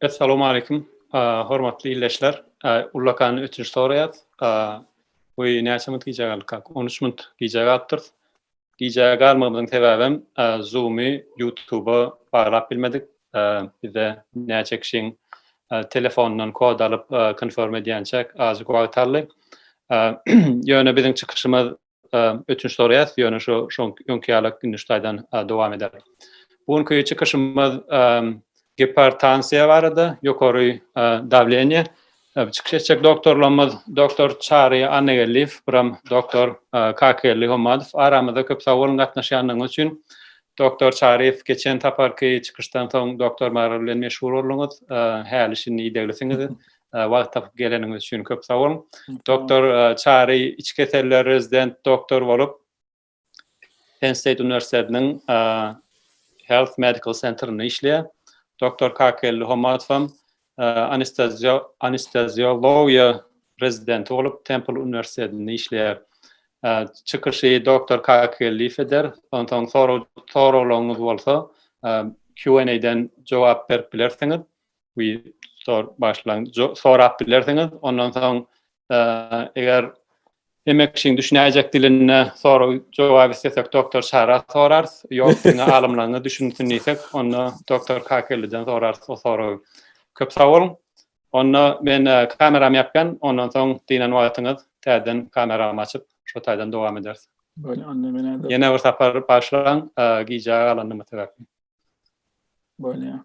Essalamu Aleýkum. Hormatly ildeşler, ullakan ötünç soraýas. Goý näçe minut gijä galdyk kak? 13 minut gijä galypdyrys. Gijä galmagymyzyň sebäbem Zoom-y YouTube-a baglap bilmedik. Bizde näçe kişiň telefonundan kod alyp konform edýänçäk azajyk wagt galdy. Ýöne biziň çykyşymyz ötünç soraýas, ýöne şu şoň öňki ýaly indi şu taýdan dowam eder. Bu günki çykyşymyz gipertansiýa barada, ýokary dawleniýe. Çykyş etjek doktorlarymyz Doktor Çary Annageldiýew, Pyram Doktor Kakygeldi Hommadow. Aramyza köp sag boluň gatnaşýandygyňyz üçin. Doktor Çaryýew, geçen saparky çykyşdan soň doktormar bilen meşgul bolduňyz. Häli şindi ideglisiňiz. Wagt tapyp geleniňiz üçin köp sag boluň. Doktor Çary içi keseller rezident doktor bolup, Penn State uniwersitetiniň Health Medical Centerinde işleýär. Doktor Kakelli Homatowam anesteziologiýa rezidenti bolup Temple uniwersitetinde işleýär. Çykyşy doktor Kakelli eder. Onsoň soraglaryňyz bolsa Q&A-den jogap berip bilersiňiz. we sor başlaň sorap bilersiňiz ondan soň eger Demek, kişiň düşünäýjek dilinde sorag jogap istedik doktor Şara sorar. Ýok, diňe alymlaryňa düşünsin diýsek, onda doktor Kakeliden sorar o soragy. Köp sag boluň. Onda men e, kameramy ýapýan, ondan soň diýen wagtyňyz täzeden kameramy açyp, şo taýdan dowam ederis. Bolýar, onda men Ýene bir sapar başlaň, e, gijä galandymy sebäpli. Bolýar.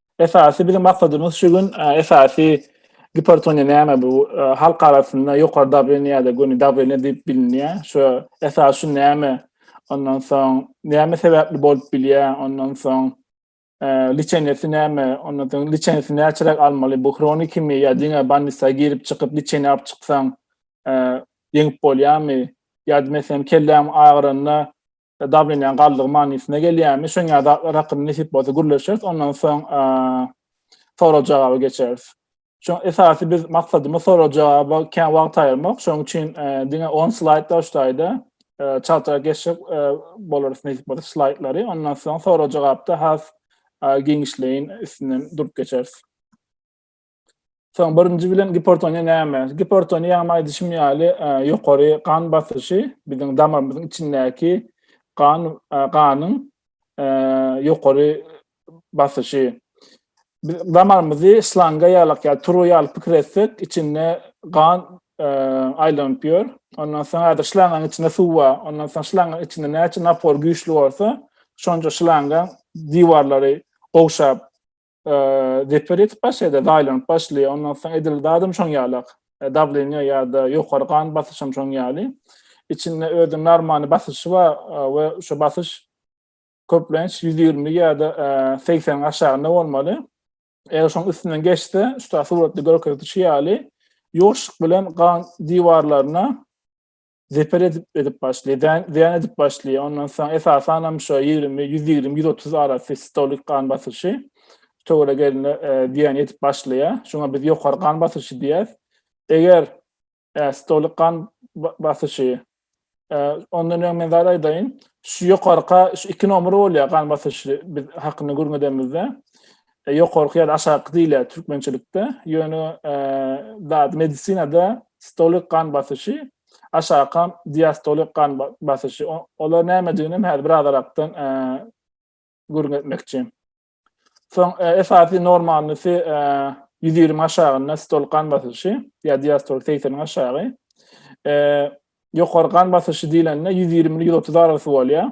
Esasy biziň maksadymyz şu gün e, esasy gipertoniýa näme bu e, halk arasynda ýokary dawleniýe ýa-da göni dawleniýe diýip bilinýär. Şu esas şu näme? Ondan soň näme sebäpli bolup bilýär? Ondan soň e, liçenesi näme? Ondan soň liçenesi näçeräk almaly? Bu hronikimi ýa diňe bannisa girip çykyp liçeni alyp çyksaň e, ýeňip bolýarmy? Ýa-da meselem kelläm agyranda Dawleniýaň galdygy manysyna gelýärmi? Şoňa zatlar hakynda nesip bolsa gürleşeris. Ondan soň sorag-jogaby geçeris. Şoň esasy biz maksadymyz sorag-jogaba kän wagt aýyrmak. Şoň üçin diňe 10 slaýd başlaýda çaltrak geçip bolarys nesip bolsa slaýdlary. Ondan soň sorag-jogapda has giňişleýin üstünden durup geçeris. Soň birinji bilen gipertoniýa näme? Gipertoniýa hem aýdyşym ýaly e, ýokary gan basyşy biziň damarymyzyň içindäki gan e, ganyň e, ýokary basyşy. Biz damarymyzy slanga ýalak ýa turu ýaly pikir etsek, içinde gan aýlanyp ýör. Ondan soň häzir şlangaň içinde suw bar. Ondan soň şlangaň içinde näçe napor güýçli bolsa, şonça şlangaň diwarlary gowşap Zeper ýetip başlaýar, zaýlanyp başlaýar. Ondan soň edil zadym şoň ýaly. E, Dawleniýa ýa-da ýokary gan basyşym şoň ýaly. Içinde özüň normally basyşy bar e, we şu basyş köplenç 120 ýa-da 80 e, aşagynda bolmaly. Eger şoň üstünden geçse, şu ta suratda görkezilişi ýaly, ýoşuk bilen gan diwarlaryna zeper edip edip başlaýar. Dän, dän edip başlaýar. Ondan soň esasan hem şu 20, 120, 130 arasy sistolik gan basyşy töwere gelende e, dän edip başlaýar. Şuňa biz ýokary gan basyşy diýýäs. Eger e, sistolik gan basyşy e, ondan öň men zada aýdaýyn. Şu ýokarka şu iki nomer bolýar gan basyşy biz hakynda gürňedemizde. E, ýokarky ýa-da aşaky diýilýär türkmençilikde. Ýöne e, zat medisinada stolik gan basyşy, aşaky diastolik gan basyşy. Olar nämedigini hem häzir biraz arakdan e, gürrüň etmekçi. Soň e, esasy normalnysy e, 120 aşagynda stol gan basyşy ýa diastol 80 aşagy. E, ýokary gan basyşy diýlende 120-130 arasy bolýar.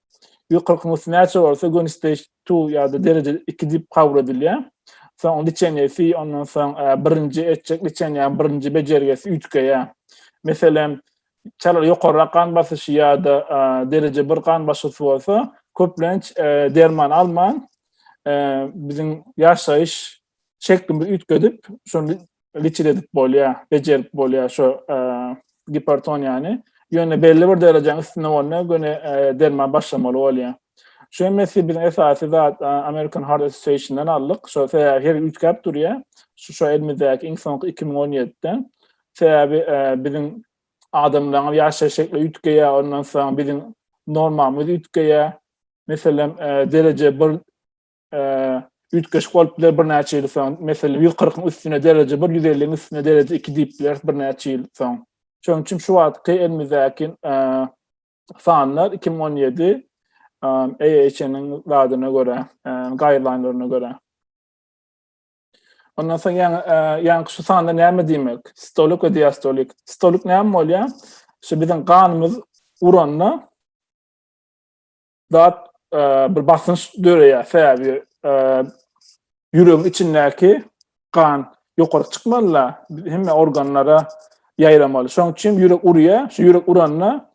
ýokarky nusgasy näçe bolsa göni stage 2 ýa-da dereje 2 diýip kabul edilýär. Soň liçenýesi, ondan soň e, birinji etjek liçenýäň birinji bejergisi üýtgeýär. Meselem, çalar ýokarrak gan basyşy ýa-da e, dereje 1 gan basyşy bolsa, köplenç e, derman alman, biziň ýaşaýyş şeklimizi üýtgedip, şol geçir edip bolýar, bejerip bolýar şu e, gipertoniýany. Ýöne belli bir derejäň üstünde bolanda göni e, derman başlamaly bolýar. Şu emesi biz esasy zat e, American Heart Association-dan aldyk. Şu sebäbi her üýtgäp durýar. Şu şu elimizdäki iň soňky 2017-de. Sebäbi e, biziň adamlaryň ýaşaýyş şekli üýtgeýär, ondan soň biziň normalymyz üýtgeýär. Meselem, e, dereje bir üýtgeşik bolup biler birnäçe ýyl soň. Meselem, 140-yň üstüne dereje bir, 150-iň üstüne dereje iki diýip bileris birnäçe ýyl soň. Şonuň üçin şu wagtky elimizdäki sanlar 2017 AHN-iň zadyna görä, gaýrlaýnlaryna görä. Ondan soň ýaňy ýaňky şu sanlar näme diýmek? Stolik we diastolik. Stolik näme bolýar? Şu biziň ganymyz uranda zat e, bir basynç döreýär sebäbi e, ýüregiň içindäki gan ýokary çykmaly da hemme organlara ýaýramaly şoň üçin ýürek urýar şu ýürek uranda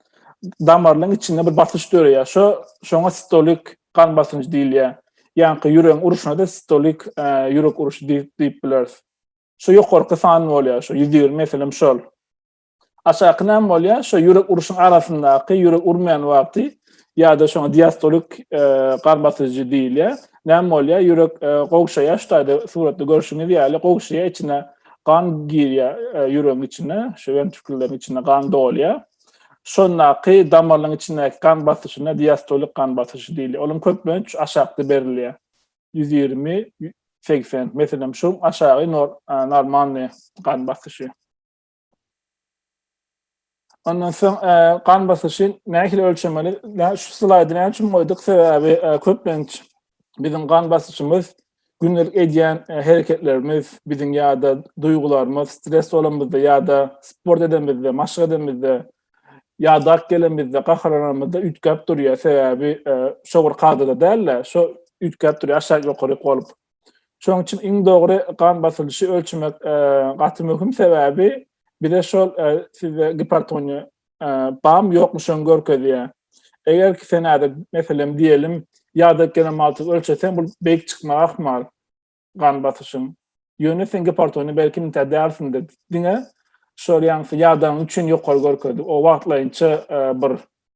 damarlaryň içinde bir basyş döreýär şo şoňa sistolik gan basynjy diýilýär ýaňky ýüregiň uruşyna da sistolik e, ýürek uruşy diýip bileris şu ýokarky san bolýar şu ýüz ýigrimi meselem şol Aşaky näme bolýar? Şo ýürek uruşyň arasyndaky ýürek urmaýan wagty ýa-da şoňa diastolik e, gan basyjy diýilýär. Näme bolýar? Ýürek e, gowşaýar, şu taýda suratda görşüňiz ýaly gowşaýar, içine gan girýär e, ýüregiň içine, şu ventrikleriň içine gan dolýar. Şondaky damarlaryň içindäki gan basyşyna diastolik gan basyşy diýilýär. Onuň köplenç aşakda berilýär. 120-80. Meselem, şu aşagy normalny gan basyşy. Ondan soň e, gan basyşy nähili ölçemeli? Näme şu slaýdy näme üçin goýduk? Sebäbi e, köplenç biziň gan basyşymyz gündelik edýän e, hereketlerimiz, biziň ýa-da duýgularymyz, stres bolanymyzda ýa-da sport edenimizde, maşk edenimizde, ýadak gelenimizde, gaharlananymyzda üýtgäp durýar. Sebäbi e, şo bir kadada däl-de, şo üýtgäp durýar, aşak ýokaryk bolup. Şonuň üçin iň dogry gan basylyşy ölçemek e, gaty möhüm sebäbi bize şol e, sizde gipertoniýa e, bam ýokmuşan görkezýär. Eger ki sen äde meselem diýelim ýada gelen malty ölçeseň bu beýik çykmaga ahmal gan basyşyň. Ýöne sen gipertoniýa belki müntä dälsindir. Diňe şol ýaňsy ýadaň üçin ýokary görkezdi. O wagtlaýynça e, bir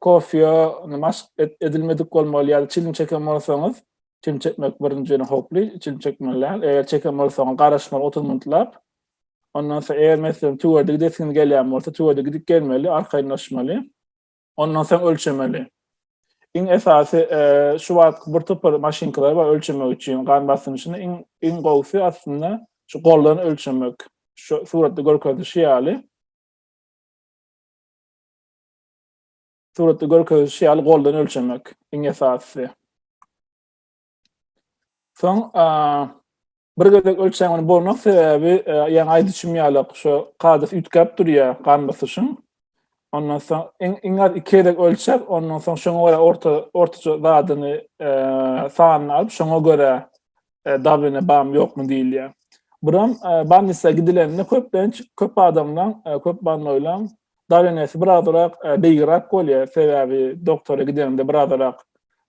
kofýa maşk edilmedik bolmaly ýa-da çilim çeken bolsaňyz, çilim çekmek birinji ýene howply, çilim çekmeli däl. Eger çeken bolsaňyz garaşmaly 30 minutlap. Ondan soň eger meselem tüwede gidesiňiz gelýän bolsa, tüwede gidip gelmeli, arkaýynlaşmaly. Ondan soň ölçemeli. Iň esasy şu wagtky bir topar maşynkalar bar ölçemek üçin gan basynyny. Iň iň gowusy aslynda şu goldan ölçemek. Şu suratda görkezilişi ýaly. Suratda görkezilişi ýaly goldan ölçemek iň esasysy. Soň bir gezek ölçämiň bolmak sebäbi e, ýaňy aýdyşym ýaly şu kadys üýtgäp durýar gan basyşyň. Ondan soň iň iň az iki gezek ölçäp, ondan soň şoňa görä orta ortaça zadyny e, sanyny alyp, şoňa görä e, Dubline bam ýokmy diýilýär. Buram e, Bannisa gidilende köplenç köp adamlaň, e, köp bannoýlaň Dublinesi birazarak e, beýgirak bolýar. Sebäbi doktora gidende birazarak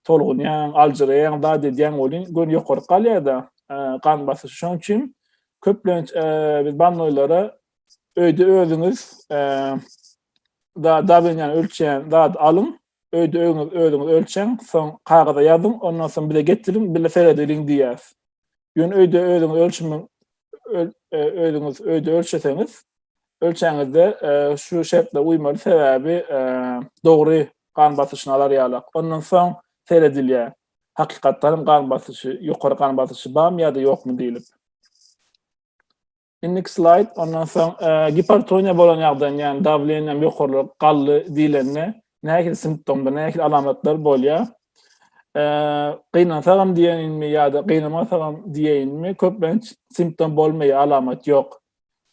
tolgunýaň, aljyraýaň, zat edýäň welin gön ýokary galýar-da e, gan basyş. Şonuň üçin köplenç e, biz bannoýlara öýde özüňiz e, da Dublinýany ölçeýän zat alyň, Öýde öňüňiz özüňiz ölçäň, soň kagyza ýazyň, ondan soň bize getiriň, bile seredeliň diýýäs. Ýöne öýde özüňiz ölçümiň e, özüňiz öýde ölçeseňiz, ölçäňizde e, şu şertlere uýmaly sebäbi e, dogry gan basyşyny alar ýalak. Ondan soň seredilýär. Hakykatdan gan basyşy, ýokary gan basyşy barmy ýa-da ýokmy diýlip. Indiki slayd, ondan soň e, gipertoniýa bolan ýagdaýynda, ýagny dawleniýam ýokarlyk gally diýlende, nähili simptomda, nähili alamatlar bolýar? E, gynansagam diýeýinmi ýa-da gynamasagam diýeýinmi? Köplenç simptom bolmaýar, alamat ýok.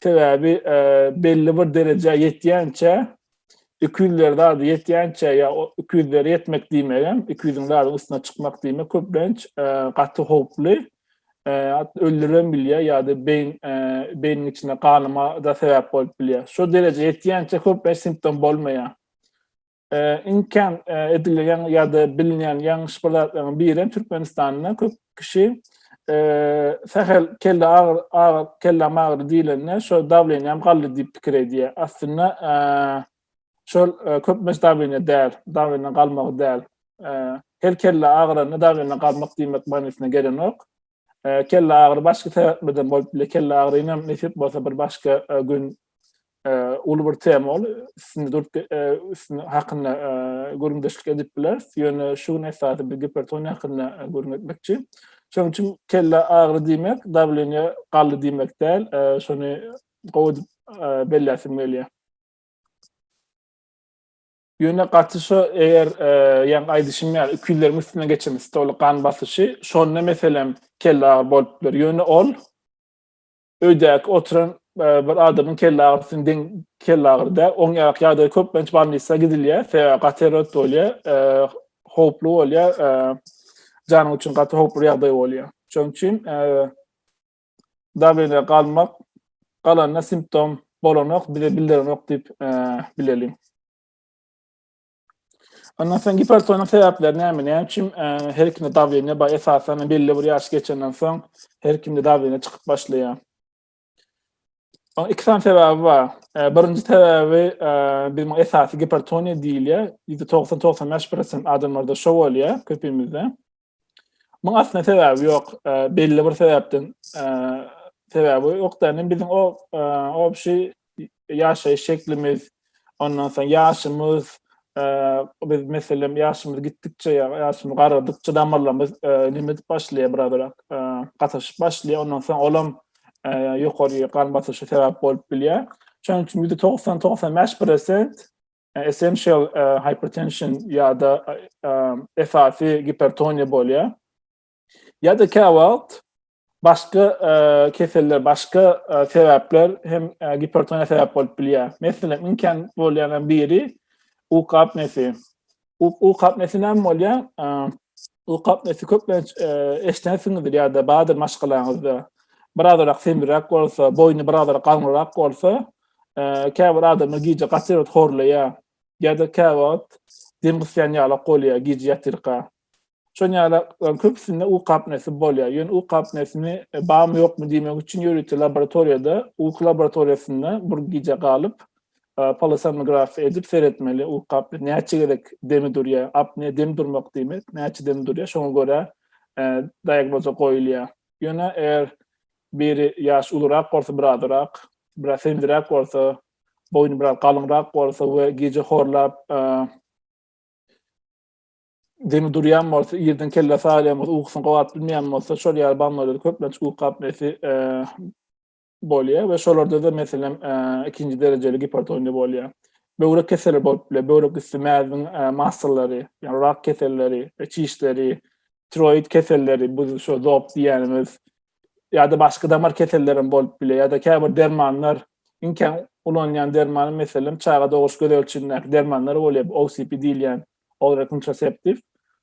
Sebäbi e, belli bir derejä ýetýänçä 200-ler zady ýetýänçä ýa 200-lere ýetmek diýmegem, 200-iň zadyň üstüne çykmak diýmek köplenç e, gaty howply. öldüribem bilýär ýa-da beýin beýniň içinde ganama da sebäp bolup bilýär. Şu derejä ýetýänçä köplenç simptom bolmaýar. Iň kän edilýän ýa-da bilinýän ýalňyş bir zatlaryň biri Türkmenistanda köp kişi sähel kelle agyr agyr kelle agyry diýlende şu dawleniýam galdy diýip pikir edýär. Aslynda Şol köplenç dawleniýe däl, dawleniýe galmagy däl. Her kelle agyranda dawleniýe galmak diýmek manysyna gelenok. Kelle agyry başga sebäplerden bolup biler. Kelle agyryny nesip bolsa bir başga gün uly bir tema ol üstünde durup üstünde hakynda gürrüňdeşlik edip bileris. Ýöne şu gün esasy bir gipertoniýa hakynda gürrüň etmekçi. Şonuň üçin kelle agyry diýmek, dawleniýe galdy diýmek däl. Şony gowy edip belläsim gelýär. Ýöne gaty şu eger e, ýaň aýdyşym ýaly ikileriň üstüne geçen stoly gan basyşy şonda meselem kelle agyr bolup biler. Ýöne ol öýdäki oturan e, bir adamyň kelle agyrysynyň deň kelle agyry däl. Oň ýarak ýagdaýy köplenç ballisa gidilýär. Sebäbi gaty erret bolýar. E, howply bolýar. E, janyň üçin gaty howply ýagdaý bolýar. Şonuň üçin e, dagyna galmak, galanyna simptom bolanok, bize bildirenok diýip bileliň. Ondan soň gipertoniýa sebäpleri näme? Näme üçin her kimde dawleniýa bar? Esasan belli bir ýaş geçenden soň her kimde dawleniýa çykyp başlaýar. Oň iki sany sebäbi bar. Birinji sebäbi biziň esasy gipertoniýa diýilýär. Ýüzde togsan togsan bäş prosent adamlarda şo bolýar köpimizde. Muň aslynda sebäbi ýok. Belli bir sebäpden sebäbi ýok da, biziň o obşi ýaşaýyş şeklimiz, ondan soň ýaşymyz, biz meselem ýaşymyz gitdikçe, ýaşymyz garadykça damarlarymyz näme edip başlaýar biraz-biraz gatyşyp başlaýar, ondan soň olam ýokary gan basyşa sebäp bolup bilýär. Şonuň üçin ýüzde togsan-togsan bäş prosent essential hypertension ýa-da esasy gipertoniýa bolýar. Ýa-da käwagt başga keseller, başga sebäpler hem gipertoniýa sebäp bolup bilýär. Meselem, iň kän bolýanlaryň biri uky apnesi. Uky apnesi näme bolýar? Uky apnesi köplenç eşdensiňizdir ýa-da bardyr maşgalaňyzda. Birazrak semriräk bolsa, boýny birazrak galňyrak bolsa, Käbir adamlar gije gaty erbet horlaýar. Ýa-da käwagt dem gysýan ýalak bolýar gije ýatyrka. Şol ýalaklaryň köpüsinde uky apnesy bolýar. Ýöne uky apnesini barmy-ýokmy diýmek üçin ýörite laboratoriýada, uky laboratoriýasynda bir gije galyp, polosomnografiýa edip seretmeli, uky apne näçe gezek demi durýar. Apne dem durmak diýmek, näçe dem durýar, şoňa görä diagnoza goýulýar. Ýöne eger Biri ýaş ulurak bolsa birazyrak, biraz sendiräk bolsa, boýny biraz galyňrak bolsa we gije horlap demi durýan bolsa, irden kelle salýan bolsa, ukusyny gowap bilmeýän bolsa, şol ýaly bamlarda köplenç uky apneýasy bolýar we şolarda-da meselem ikinji derejeli gipertoniýa bolýar. Böwrek keseli bolup biler, böwrek üsti mäziň massallary, ýagny rak keselleri, çişleri, tiroid keselleri, bu şu zop diýýänimiz, ýa-da başga damar keselleri hem bolup biler, ýa-da käbir dermanlar, iň kän ulanylýan derman, meselem, çaga doguş gözegçilindäki dermanlar bolýar, OCP diýilýän, oral contraceptive.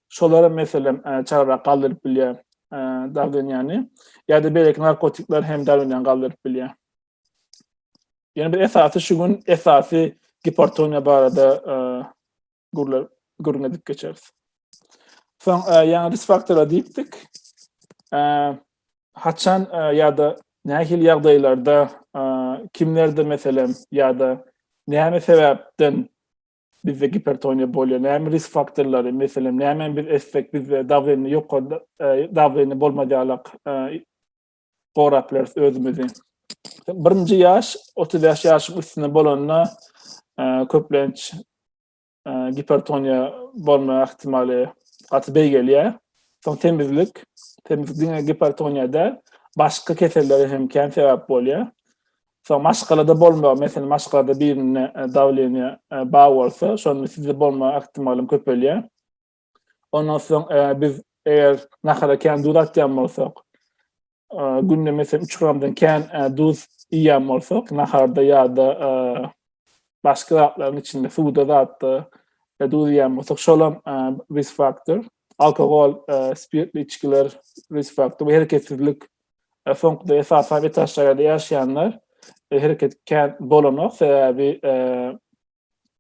Şolar hem, meselem, e, çagrak galdyryp bilýär e, dawlenýäni, ýa-da beýleki narkotikler hem dawlenýäni galdyryp bilýär. Ýöne bir esasy şu gün esasy gipertoniýa barada e, gürler gürrüň edip geçeris. Soň e, ýaňy risk faktora diýipdik. E, haçan e, ýa-da nähili ýagdaýlarda e, kimlerde meselem ýa-da näme sebäpden bizde gipertoniýa bolýar, näme risk faktorlary, meselem, näme biz etsek bizde dawleniýa ýokary e, dawleniýa bolmadyalak e, gorap bileris özümizi. Birinji ýaş, 35 ýaşyň üstünde bolanda e, köplenç e, gipertoniýa bolma ähtimaly gaty beýgelýär. Soň temizlik, temizlik diňe gipertoniýa däl, başga kesellere hem kän sebäp bolýar. Soň maşgalada bolma, meselem maşgalada birine e, dawleniýa e, bar bolsa, şonda sizde bolma ähtimalym köpelýär. Ondan soň e, biz eger nahara kän duz atýan bolsak, e, günde meselem 3 gramdan kän e, duz iýen bolsak, naharda ýa-da e, başga zatlaryň içinde suwda zatda e, duz iýen bolsak, şol hem e, risk faktor. Alkogol, e, spirtli içgiler risk faktor we hereketsizlik. E, soňkuda esasan etaşlarda ýaşaýanlar e, hereket kän bolanok, sebäbi e,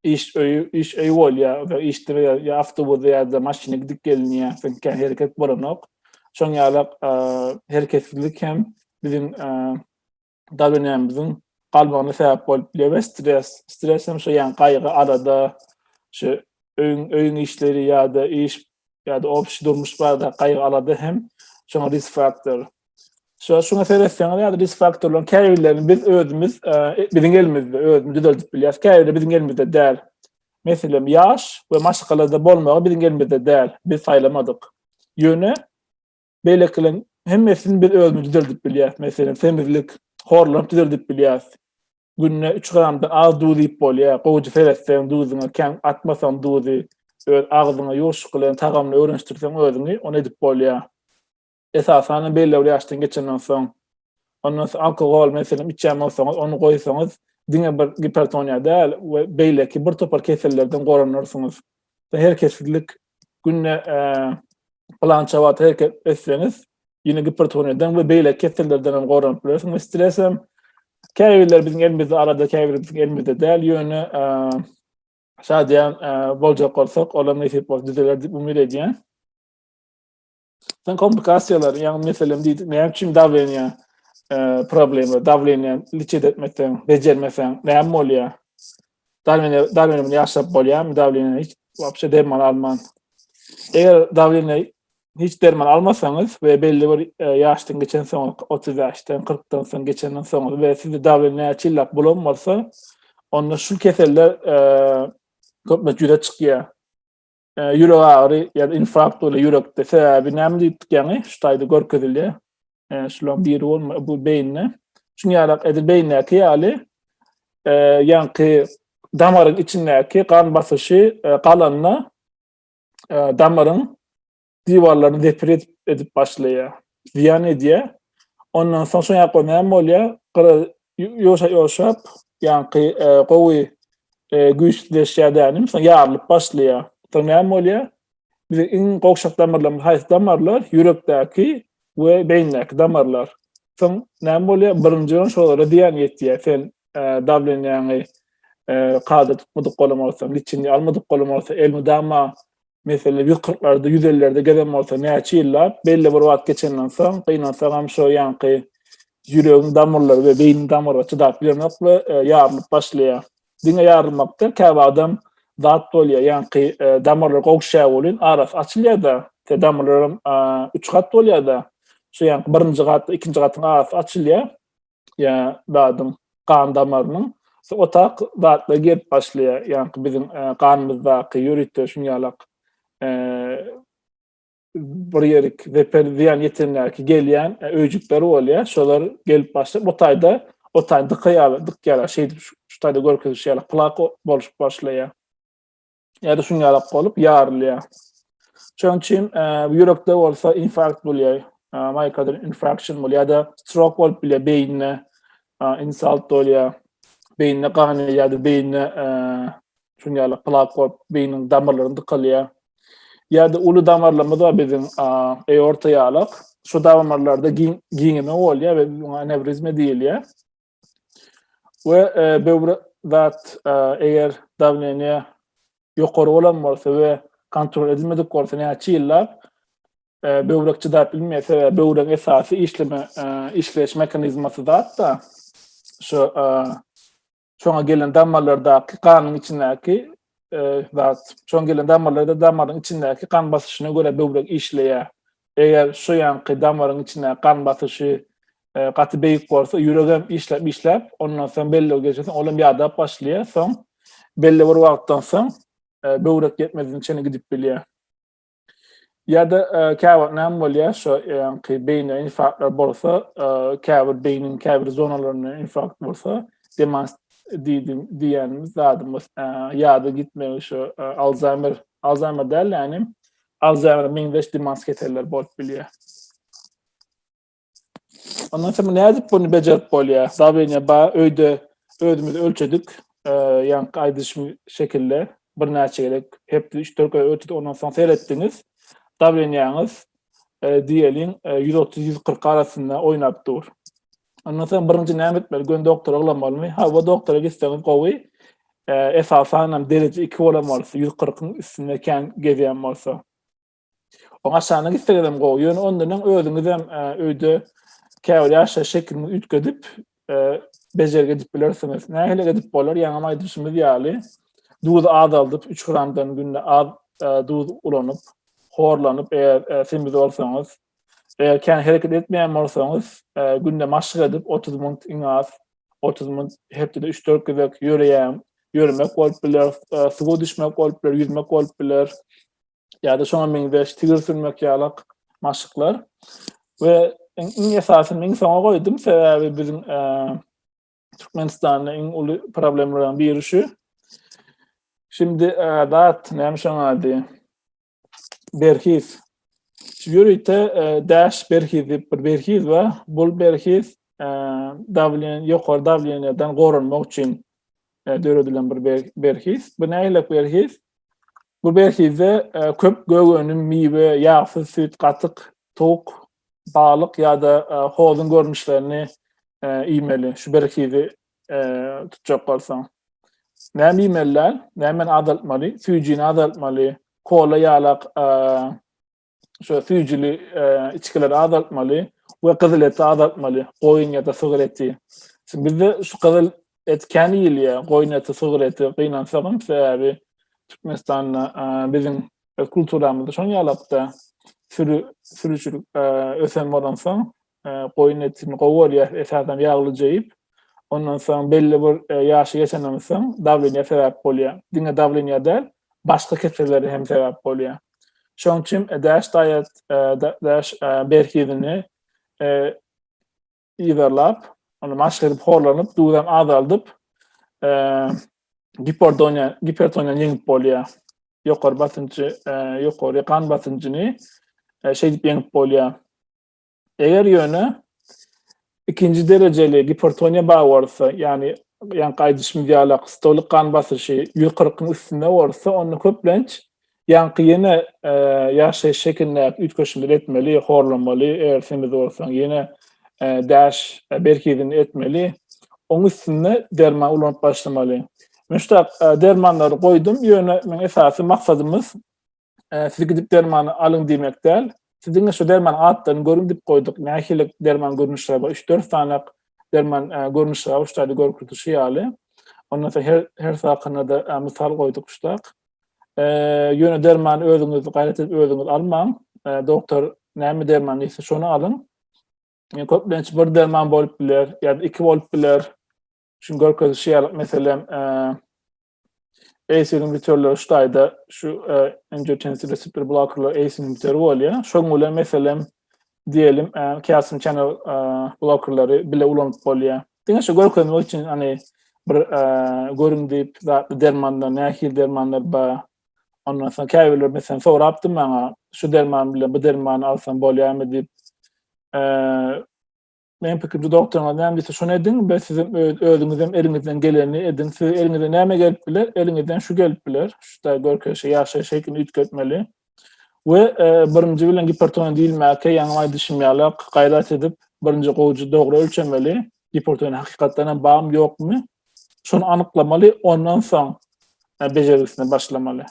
iş öýi, iş öýi bolýar, iş diri ýa awtobusda ýa-da maşynda gidip gelinýär, çünki hereket bolanok. Şoň ýaly hereketsizlik hem biziň dabenemiziň galmagyna sebäp bolup biler we stres, stres hem şu ýaly gaýgy, alada, şu öýüň, öýüň işleri ýa-da iş ýa-da obşi durmuş barada gaýgy, alada hem şoňa risk faktor. Şo şuna seretseňiz ýa-da risk faktorlaryň käbirlerini biz özümiz e, biziň elimizde özümiz düzeldip bilýäris. Käbirleri biziň elimizde däl. Meselem, ýaş we maşgalada bolmagy biziň elimizde däl. Biz saýlamadyk. Ýöne beýlekilerin hemmesini biz özümiz düzeldip bilýäris. Meselem, semizlik, horlanyp düzeldip bilýäris. Günde 3 gramdan az duz iýip bolýar. Gowja seretseň duzuňa, kän atmasaň duzy, öz agzyňa ýoşuk bilen tagamyny öwrenişdirseň özüňi, ony edip bolýar. Esasan-da belli bir ýaşdan geçenden soň. Ondan soň alkogol meselem içýän bolsaňyz, ony goýsaňyz, diňe bir gipertoniýa däl we beýleki bir topar kesellerden goranarsyňyz. Her kesillik günde pylança wagt hereket etseňiz, ýene gipertoniýadan we beýleki kesellerden hem goranyp bilersiňiz we stres hem käbirler biziň elimizde arada, käbirler biziň elimizde däl, ýöne şadyýan boljak bolsak, olam nesip bolsa düzeler diýip umyt edýän. Sen komplikasiýalar, ýagny meselem diýdik, näme üçin dawleniýa e, problemi, dawleniýa liçet etmekden bejermeseň, näme bolýar? Dawleniýa dawleniýa bilen ýaşap bolýarmy? Dawleniýa hiç wapşe derman alman. Eger dawleniýa hiç derman almasaňyz we belli bir e, ýaşdan geçen soň 30 ýaşdan 40-dan soň geçenden soň we sizde dawleniýa çillap bulan bolsa, onda şu keseller e, köplenç ýüze çykýar. ýürek agyry ýa-da infarkt bolýar ýürekde. Sebäbi näme diýdik ýaňy? Şu taýda görkezilýär. Şularyň biri bolma, bu beýinde. Şuň ýaly edil beýindäki ýaly ýaňky damaryň içindäki gan basyşy galanda damaryň diwarlaryny depir edip, edip başlaýar. Ziýan edýär. Ondan soň şoň ýakda näme bolýar? Gyra ýoşa ýoşap, ýaňky e, gowy e, güýçsüzleşýär dänim, soň ýarylyp başlaýar. Soň näme bolýar? Biziň iň gowşak damarlarymyz haýsy damarlar? Ýürekdäki we beýindäki damarlar. Soň näme bolýar? Birinji bilen şolara diýen ýetýär. Sen e, dawlenýäňi e, kada tutmadyk bolan bolsaň, liçini almadyk bolan bolsa, elmydama meselem, ýüz kyrklarda, ýüz ellilerde gezen bolsa, näçe ýyllap, belli bir wagt geçenden soň, gynansagam, şo ýaňky ýüregiň damyrlary we beýniň damyrlary çydap bilenok we e, ýarylyp başlaýar. Diňe ýarylmakda käbir adam zat bolýar, ýaňky e, damarlar gowşýar welin, arasy açylýar-da, te damarlaram e, üç gat bolýar-da, şo ýaňky birinji gat, ikinji gatyň arasy açylýar. ýa zadyň gan damarynyň o tak zatla gelip başlaýar. Ýa-ni biziň e, ganymyzdaky ýörite şuň ýalak e, bir ýerik zeper ziýan ýetendäki gelýän e, öýjükler bolýar. Şolar gelip başlap o taýda o taýda dykaýar, dykýar. Şeýdip şu taýda görkezişýär. Plak bolşup başlaýar. ýa-da şuň ýalak bolup ýarylýar. Şonuň üçin e, ýürekde bolsa infarkt bolýar, e, myokardal infarction bolýar ýa-da strok bolup bilýär, beýnine e, insult bolýar, beýnine gan ýa-da beýnine e, şuň ýalak plak bolup beýniň damarlaryny dykalýar. Ýa-da uly damarlarymyz bar biziň aorta ýalak. Şu damarlarda giňeme bolýar we anewrizma diýilýär. We böwre zat eger dawleniýe ýokary bolan bolsa we kontrol edilmedik bolsa näçe ýyllap böwrek çydap bilmeýär sebäbi böwregiň esasy işleme işleýiş mehanizmasy zat da şu şoňa gelen damarlardaky ganyň içindäki zat. Şoň gelen damarlarda damaryň içindäki gan basyşyna görä böwrek işleýär. Eger şu ýanky damaryň içindäki gan basyşy e, gaty beýik bolsa, ýürek hem işläp işläp, ondan soň bellew geçirse, ol hem ýadap başlaýar. Soň belli bir wagtdan soň e, böwrek ýetmezine çenli gidip bilýär. Ýa-da käwagt näme bolýar, şo ýaňky beýnä infarktlar bolsa, käbir beýniň käbir zonalaryna infarkt bolsa, demans diýdim diýýänimiz zadymyz, ýady gitmegi şo Alzheimer, Alzheimer däl, ýagny Alzheimer meňzeş demans keselleri bolup bilýär. Ondan soň nädip bunu bejerip bolýar? Zabeniýa ba öýde özümiz ölçedik. Ýa-ni aýdyş şekilde bir näçe gerek hep 3-4 göz ötüp ondan soň seretdiňiz. Zabeniýaňyz diýeliň 130-140 arasynda oýnap dur. Ondan soň birinji näme etmeli? Gön doktora uglanmalymy? Ha, bu doktora gitseňiz gowy. Esasan hem dereje 2 bolan bolsa, 140-yň üstünde kän gezýän bolsa. Oň aşagyna gitseňizem gowy. Ýöne ondanam özüňizem e, öýde käbir ýaşaýyş şeklini üýtgedip, e, bejergi edip bilersiňiz. Nähili edip bolar? Ýaňam aýdyşymyz ýaly, duz azaldyp, 3 gramdan günde az e, duz ulanyp, horlanyp, eger semiz bolsaňyz, eger kän hereket etmeýän bolsaňyz, günde maşk edip 30 minut iň az 30 minut hepdede 3-4 gezek ýöreýän, ýörmek bolup biler, suwa düşmek bolup biler, ýüzmek bolup biler. ýa-da şoňa meňzeş tigir sürmek ýaly maşyklar we iň esasy men soňa goýdum sebäbi biziň e, Türkmenistanda iň uly problemlerden biri şu. Şimdi e, dat näme şoň ady? Berhiz. Şu ýörite e, daş berhiz diýip bir berhiz we bu berhiz e, dawlen ýokary dawlenýadan goranmak üçin döredilen bir berhiz. Bu näýlek berhiz? Bu berhizde köp gök önüm, miwe, ýagsyz süýt, gatyk, towuk, balyk ýa-da hozuň görnüşlerini iýmeli, şu berhizi tutjak bolsaň. Näme iýmeli däl? Nämeni azaltmaly? Süýjini azaltmaly, kola ýalak şo süýjüli içgileri azaltmaly we gyzyl eti azaltmaly. Goýun ýa-da sygyr eti. Şimdi bizde şu gyzyl et kän iýilýär. Goýun eti, sygyr eti gynansagam sebäbi Türkmenistanda biziň kulturamyzda şonuň ýalakda sürü sürüçilik ösen bolansoň goýun etini gowy bolýar, esasan ýaglyja iýip. Ondan soň belli bir e, ýaşy geçenden soň dawleniýa sebäp bolýar. Diňe dawleniýa däl, başga kesellere hem sebäp bolýar. Şoň üçin e, dash diet, e, dash e, berhizini e, ýygarlap, ony maşk edip horlanyp, duzam azaldyp, e, giperdoniýa, gipertoniýany ýeňip bolýar. Ýokary basynjy, e, ýokary gan basynjyny e, şeýdip ýeňip bolýar. Eger ýöne ikinji derejeli gipertoniýa bar bolsa, ýagny ýan gaýdyş midialak, stolik gan basyşy 140-yň üstünde bolsa, onda köplenç ýaňky ýene e, ýaşaýyş şekilindäki üýtgeşmeleri etmeli, horlamaly, eger semiz bolsaň, ýene e, daş e, berkidini etmeli. Oň üstünde derman ulanyp başlamaly. Men şu dermanlary goýdum, ýöne men esasy maksadymyz e, siz gidip dermany alyň diýmek däl. Siziň şu derman atlaryny görüň diýip goýduk. Nähili derman görnüşleri bar? 3-4 sany derman e, görnüşleri bar, şularda görkezişi ýaly. Ondan soň her her sakynda da e, mysal goýduk şudak. E, ýöne dermany özüňiz gaýrat edip özüňiz almaň. E, doktor näme derman diýse şony alyň. E, köplenç bir derman bolup biler, ýa-da iki bolup biler. Şuň görkezişi ýaly, meselem, e, ACL inhibitorlar şu taýda şu e, angiotensin reseptor blokkerlar ACL inhibitor bolýar. Şoň bilen meselem diýelim, e, kalsium channel e, blokkerleri bile ulanyp bolýar. Diňe şu görkezmek üçin hani bir e, görüm diýip zatly dermanlar, nähil dermanlar bar. Ondan soň käbirler meselem sorapdy maňa, şu derman bilen bu dermany alsam bolýarmy diýip. E, Meň pikirimçe doktoryňyz näme diýse şony ediň we siz özüňiz hem eliňizden geleni ediň. Siz eliňize näme gelip biler? Eliňizden şu gelip biler. Şuda görkezişe ýaşaýyş şeklini üýtgetmeli. We e, birinji bilen gipertoniýa diýilmäke ýaňy aýdyşym ýaly gaýrat edip birinji gowujy dogry ölçemeli. Gipertoniýa hakykatdan hem barmy ýokmy? Şony anyklamaly, ondan soň e, bejergisine başlamaly.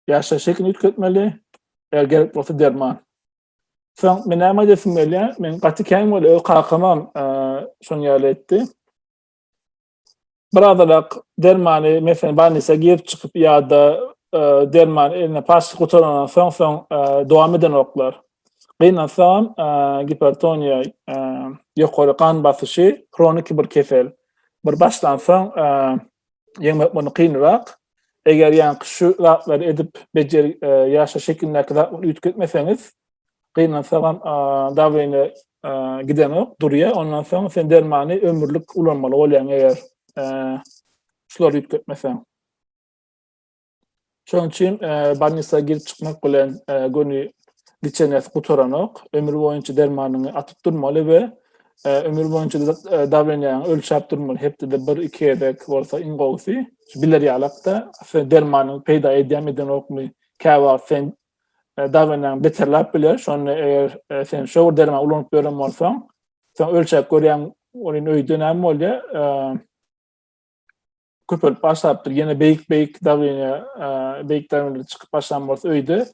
Ýaşaýyş şekilini üýtgetmeli, eger gerek bolsa derman. Soň men näme edesim gelýär? Men gaty kän bol öz kakamam şoň ýaly etdi. Birazalak dermany meselem banisa girip çykyp ýa-da derman eline paşy gutarandan soň soň dowam eden oklar. Gynansam gipertoniýa ýokary gan basyşy hroniki bir kesel. Bir başlansoň ýeňmek mundan kynrak. Eger ýaňky şu zatlary edip bejer e, ýaşa şekilindäki zatlary üýtgetmeseňiz, gynansag hem dawleniýe gidenok, durýar. Ondan soň sen dermany ömürlik ulanmaly bolýaň eger e, şulary üýtgetmeseň. Şonuň üçin bolnisa girip çykmak bilen göni liçenesi gutaranok. Ömür boýunça dermanyňy atyp durmaly we ömür boýunça dawlenýaňy ölçäp durmaly. Hepdede bir, iki gezek bolsa iň gowusy. Biler ýalakda dermanyň peýda edýän edenokmy? Käbir wagt sen dawlenýaň beterläp biler. Şonda eger sen şu dermany ulanyp ýören bolsaň, sen ölçäp görýäň, onuň öýde näme bolýar? köpelip başlapdyr. Ýene beýik beýik dawleniýa, beýik dawleniýa çykyp başlan bolsa öýde,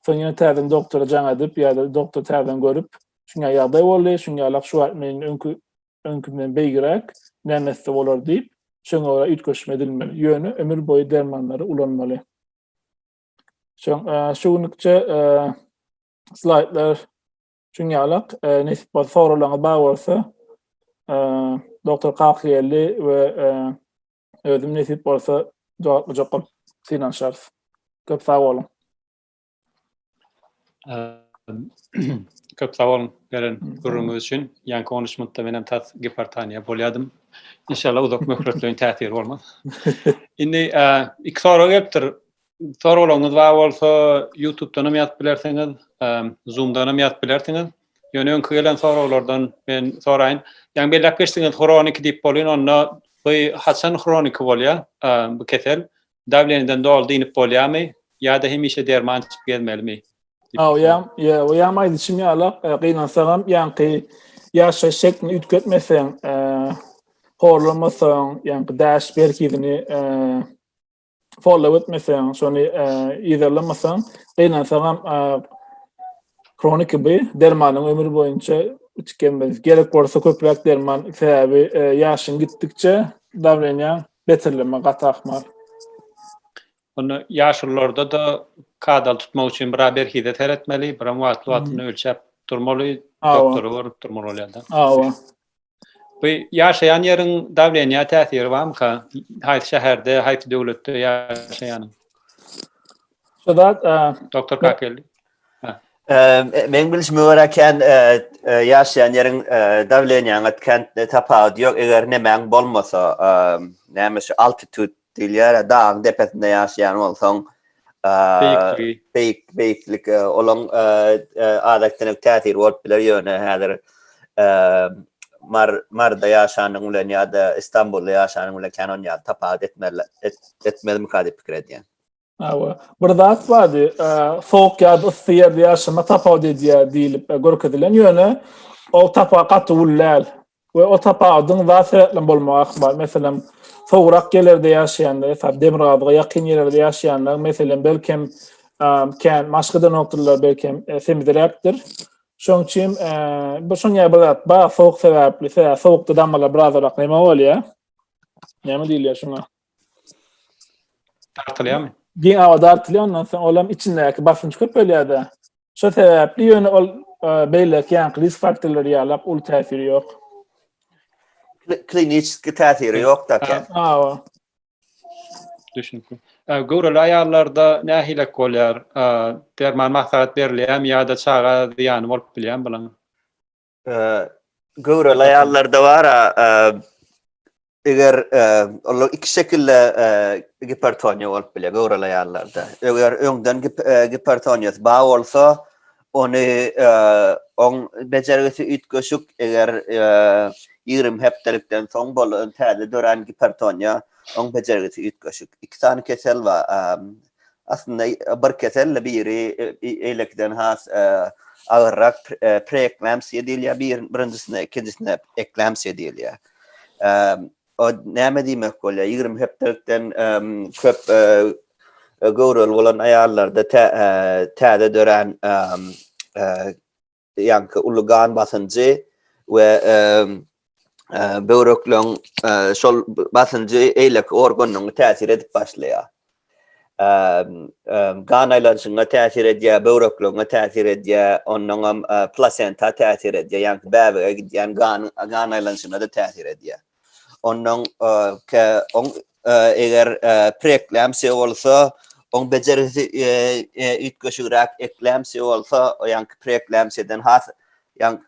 soň ýene täzeden doktora jaň edip ýa-da doktor täzeden görüp, şuňa ýagdaý boldy, şuňa ýalak şu wagt meniň öňki öňkümden beýgiräk näme etse bolar diýip, şoňa görä üýtgeşme edilmeli. Ýöne ömür boýy dermanlary ulanmaly. Şoň şu günlükçe slaýdlar Şuň ýaly, nesip bolsa, soraglaryňyz bar bolsa, doktor Kakyýelli we özüm nesip bolsa jogaplyjak bolup synanyşarys. Köp sag boluň. Köp sag boluň beren gürrüňiňiz üçin. Ýaňky 13 minutda men hem tas gipertoniýa bolýadym. Inşallah uzak möhletleýin täsiri bolmaz. Indi iki sorag gelipdir. Soraglaryňyz bar bolsa, YouTube-dan hem ýazyp bilersiňiz, Zoom-dan hem ýazyp bilersiňiz. Ýöne öňki gelen soraglardan men soraýyn. Ýaňy belläp geçdiňiz, hroniki diýip bolýan, onda bu haçan hroniki bolýar bu kesel? Dawleniýeden doly dynip bolýarmy? Ýa-da hemişe derman içip gezmelimi? Ha, o ýam, ýa, o ýam aýdyşym ýala, e, gynansaň hem ýaňky ýaşaýyş şeklini üýtgetmeseň, e, horlamasaň, ýaňky daş berkidini e, follow etmeseň, şony yzarlamasaň, gynansagam kronik bu dermanyň ömür boýunça içkemez. Gerek bolsa köpräk derman sebäbi ýaşyň gitdikçe dawleniýa beterleme gat ahmal. Onda ýaşulylarda da kadal tutmak üçin biraz berhize seretmeli, biraz wagtly-wagtynda ölçäp durmaly, doktora görüp durmaly bolýar-da. Hawa. Bu ýaşaýan ýeriň dawleniýa täsiri barmyka? Haýsy şäherde, haýsy döwletde ýaşaýan? Şudat, doktor Kakel. Men bilişime görä kän ýaşaýan ýeriň dawleniýaňa kän tapawudy ýok. Eger nämäň bolmasa, näme şu altitut Diýilýär-ä, dagyň depesinde ýaşaýan bolsaň, beýikligi, beýik, beýiklik, olaň adatçylyk täsiri bolup biler, ýöne häzir Mar, Marda ýaşanyň bilen ýa-da Istanbulda ýaşanyň bilen kän ony ýaly tapawut etmezmika diýip pikir edýän. Hawa. Bir zat bardy, e, sowuk ýa-da yssy ýerde ýaşama tapawut edýär diýlip e, görkezilen, ýöne ol tapa gaty uly däl we o tapawudyň zat sebäpli bolmagy ahmal. Meselem, sowugrak ýerlerde ýaşaýanlar, esasy demirgazyga ýakyn ýerlerde ýaşaýanlar, meselem, belkem e, kän maşk edenokdyrlar, belkem e, semizräkdir. Şoň üçin e, bu şoň ýaly bir zat bar, sowuk sebäpli, sebäbi sowukda damarlar birazrak näme bolýar? Näme diýilýär şuňa? Dartylýarmy? Giň awa dartylýar, ondan soň olam içindäki basynç köpelýär-de. Şo sebäpli ýöne ol e, beýleki ýaňky risk faktorlary ýaly uly täsiri ýok. Kliniçki täsiri ýok-da eken. Awa. Düşünikli. Ä, Göwreli aýallarda nähilek bolýar? Ä, Derman maslahat berilýärmi ýa-da çaga zyýany bolup bilýärmi bulaň? Göwreli aýallarda bar, eger olar iki şekilde gipertoniýa bolup biler göwreli aýallarda. Eger öňden gipertoniýasy bar bolsa, ony oň bejergisi üýtgeşik, eger 20 hepdelikden soň bolan täze dörän gipertoniýa, oň bejergisi üýtgeşik. Iki sany kesel bar. Aslynda bir kesel-de biri beýlekiden has agyrrak preeklamsiýa diýilýär birinjisine, ikinjisine eklamsiýa diýilýär. O näme diýmek bolýar? Ýigrimi hepdelikden köp göwreli bolan aýallarda täze dörän ýaňky uly gan basynjy we böwrekleriň şol basynjy eýleki organyň täsir edip başlaýar. Gan aýlanyşyna täsir edýär, böwrekleriňe täsir edýär, ondan hem plasenta täsir edýär, ýaňky bäbege gidýän gan gan aýlanyşyna-da täsir edýär. Ondan ke on eger preklemsiýa bolsa, on bejergisi üýtgeşigräk eklemsiýa bolsa, ýaňky preklemsiýadan has ýaň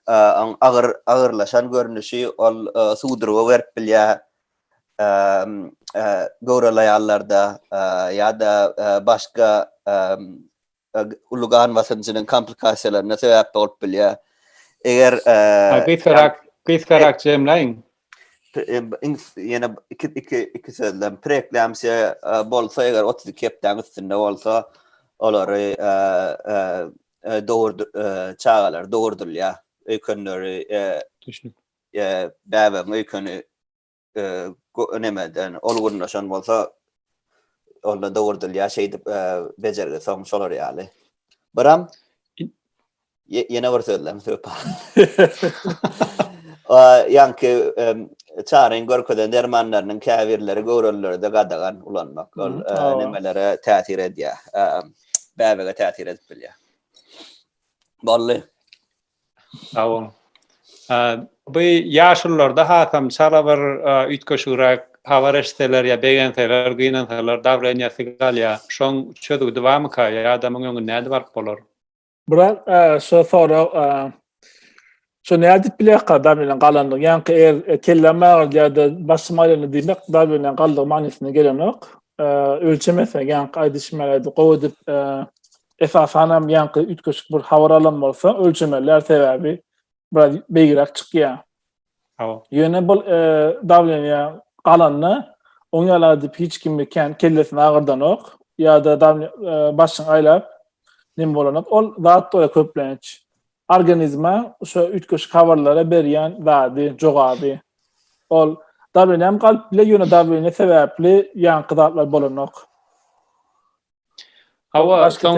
on agyr agyrlaşan görnüşi ol suwdurgy berip bilýär. Göwreli aýallarda ýa-da başga we uly gan basynyjynyň komplikasiýalaryna sebäp bolup bilýär. Eger gysgarak gysgarak jemläýiň. Ýene iki iki iki sözlem preeklamsiýa bolsa eger otuz iki hepdäň üstünde bolsa olary dogurdy çagalar dogurdylýar öýkenleri bäbegiň öýkeni nemeden ol gurnaşan bolsa onda dogurdylýar şeýdip bejergi soň şolar ýaly. Biram ýene bir sözlem söp. Ýanki çaryň görkezen dermanlarynyň käbirleri göwrelilerde gadagan ulanmak ol nemelere täsir edýär. Bäbege täsir edip bilýär. Bolly. Sag boluň. Bu ýaşulularda hasam çala bir üýtgeşigräk habar eşitseler ýa begenseler, gynansalar dawleniýasy galýar. Şoň çözgüdi barmyka ýa-da muň öňüni nädip alyp bolar? Bular şo sorag şo nädip bilýärka dawleniýaň galandygyny? Ýaňky eger kelläm agyrýar-da, başym aýlanýar diýmek dawleniýaň galdygy manysyna gelenok. Ölçemesek ýaňky aýdyşym ýaly gowy edip Esasan hem ýaňky üýtgeşik bir habar alan bolsa ölçemeler sebäbi biraz beýgiräk çykýar. Hawa. Ýöne bu e, dawleniýa galanda oň ýala edip hiç kimni kän kellesini agyrdanok ýa-da e, başyň aýlap nim bolanok. Ol zat doýa köplenç organizme şu üýtgeşik habarlara berýän zady, jogaby. Ol dawleniýam galyp bile ýöne dawleniýa sebäpli ýaňky zatlar bolanok. Hawa, soň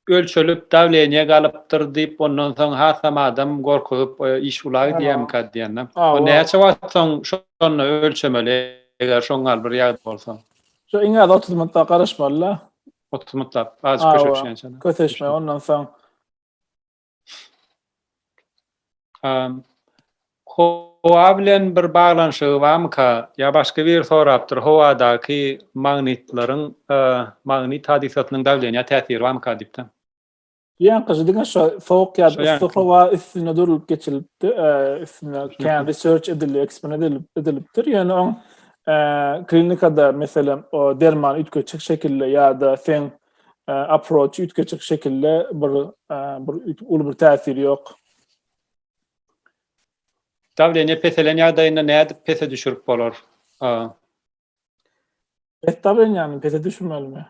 ölçelip dawleniýe galypdyr diýip, ondan soň hasam adam gorkuzyp iş ula gidýärmikä diýende. Ol näçe wagt soň şonda ölçemeli, eger şoň gal bir ýagdaý bolsa? Şo iň az 30 minut garaşmaly-da. 30 minut, azajyk köşeşýänçä. Köşeşme, ondan soň Um, howa bilen bir baglanyşygy barmyka? Ya başga bir sorapdyr. Howadaky magnitleriň, uh, magnit hadysasynyň dawleniýa täsiri barmyka diýipdir. Ýaňkyjy diňe şo sowuk ýa yssy howa üstünde durlup geçilipdi, uh, üstünde kän research edildi, eksperiment edilip edilipdir. Ýöne oň uh, klinikada meselem o derman üýtgeçik şekilde ýa-da sen approach üýtge çyk şekilde bir bir uly bir täsiri ýok. Dawleniýe peselen ýagdaýynda nädip pese düşürip bolar? Pes dawleniýäni pese düşürmelimi?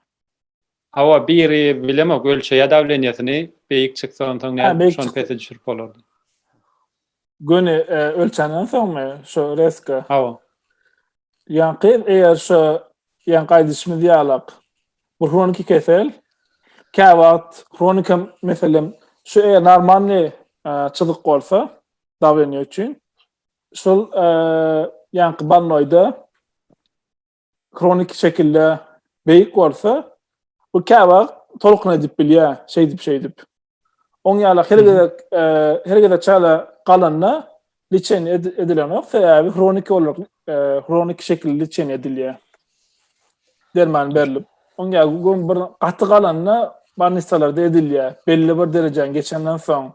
Hawa, biri bilemok, ölçeýä dawleniýesini, beýik çyksa onsoň nädip şony pese düşürip bolardy? Göni ölçänden soňmy şu reska? Hawa. Ýan gyz eger şu ýan gaýdyşymyz ýalak. Bu hroniki kesel. Kä wagt hronika meselem şu eger normalny çyzyk bolsa dawleniýe üçin şol ýanky bannoýda Hroniki şekilde beýik bolsa, bu käwagt tolkun edip bilýär, şeýdip-şeýdip. Oň ýala her gezek, her gezek çala galanda liçen edilenok, sebäbi hroniki olarak, hroniki şekilde liçen edilýär. Derman berilip. Oň ýala gün bir gaty galanda barnistalarda edilýär. Belli bir derejäni geçenden soň,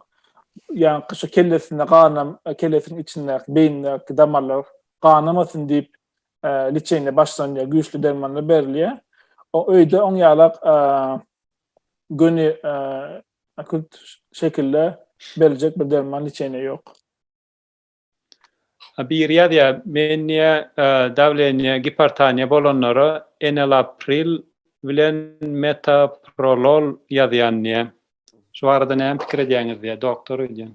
ýaňky şu kellesinde ganam, kellesiniň içindäki, beýnindäki damarlar ganamasyn diýip, e, liçenýe başlanýar, güýçli dermanlar berilýär. O öýde oň ýalak e, göni e, akut şekilde beriljek bir derman liçenýe ýok. Bir ýazýa men niýe e, dawleniýe gipertoniýa bolanlara enalapril bilen metaprolol ýazýan diýe. Şu barada näme pikir edýäňiz diýe doktor öýdýän.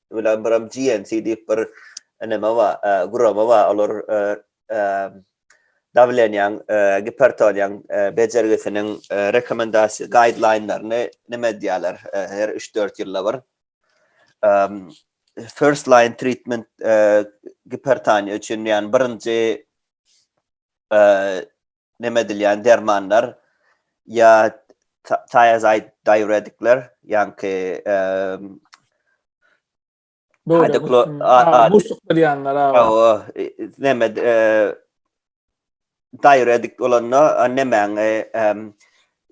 bilen biram GNC diýip bir neme bar, e, gurama bar. Olar e, e, dawlenýaň, gipertoniýaň bejergisiniň rekomendasiýa guideline-laryny neme edýärler her 3-4 ýylda bir. First line treatment gipertoniýa üçin, ýani birinji neme edilýän dermanlar ýa thiazide diuretikler, ýaňky Hydoklo buşluk berýänler aga. Neme diuretik bolanda nemäň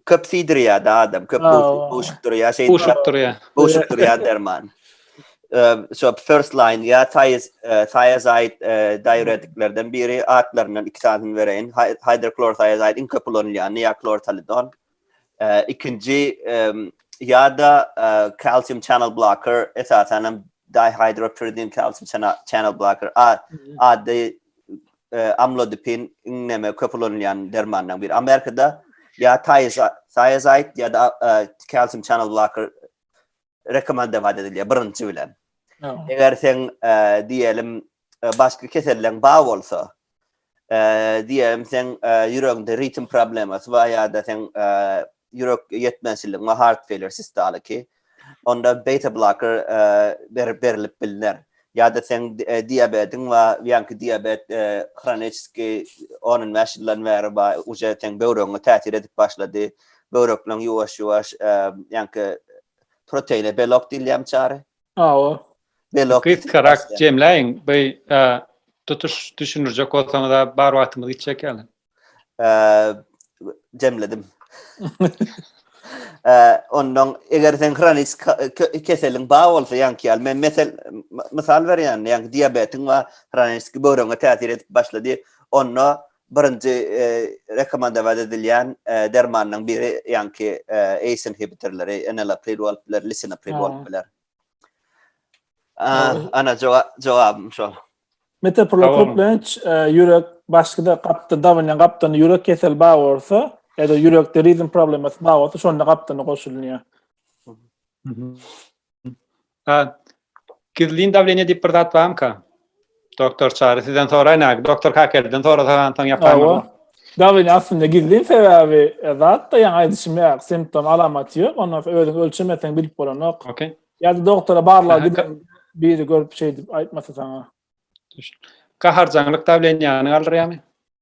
Köp siýdirýär-de adam, köp gowşup durýar, şeýdip. Gowşup durýar. Gowşup durýar derman. Şo first line ýa taýyz, taýazaýd diuretiklerden biri atlaryndan iki sanyny bereýin. Hidroklorothiazid iň köp ulanylýany ýa klortalidon. Ikinji ýa-da kalsium channel blocker esasan hem dihydropyridin kalsium channel blocker. A, ady amlodipin iňňeme köp ulanylýan dermanlaryň biri. Amerikada ýa thiazide ýa-da calcium channel blocker rekomendować edilýär birinji bilen. Eger sen diýelim başga keselleriň bar bolsa, diýelim sen ýüregiňde ritm problemasy bar ýa-da sen ýürek ýetmezçilik, heart failure sistaly ki, onda beta blocker berip berilip bilner. Ya da sen diabetin we yanki diabet hronическi 10-15 ýyldan bäri ba uje sen böwregiňe täsir edip başlady. Böwrekleň ýuwaş-ýuwaş yanki proteine belok diýilýän çary. Awa. Belok. Kysgarak jemläýiň. Bu tutuş düşündirjek bolsaňyz bar wagtymyz gitjek ýaly. Eee jemledim. Eee ondan eger sen hronik keseliň bar bolsa ýaňky ýaly men mesel mysal berýän ýaňky diabetiň we hronik böwrüňe täsir edip başlady. Onda birinji eee rekomendować edilýän eee dermanyň biri ýaňky eee ACE inhibitorlary, enalapril bolup biler, lisinopril bolup biler. Ana jogabym şol. Mete Prokoplenç ýürek başga-da gapda dawanýan gapdan ýürek kesel bar bolsa, ýa-da ýürekde rizm problemasy bar bolsa, şonda gapdana goşulýar. Gizlin dawleniýe diýip bir zat barmyka? Doktor Çary sizden soraýyn äki. Doktor Kakelden sorasaňam soň ýaparmyň? Dawini aslynda gizlin sebäbi zatda ýaňy aýdyşym ýaly simptom alamaty ýok. Ondan soň özüň ölçemeseň bilip bolanok. Okey. Ýa-da doktora barlaga giden biri görüp şeýdip aýtmasa saňa. Düşün. Gaharjaňlyk dawleniýäňi galdyrýarmy?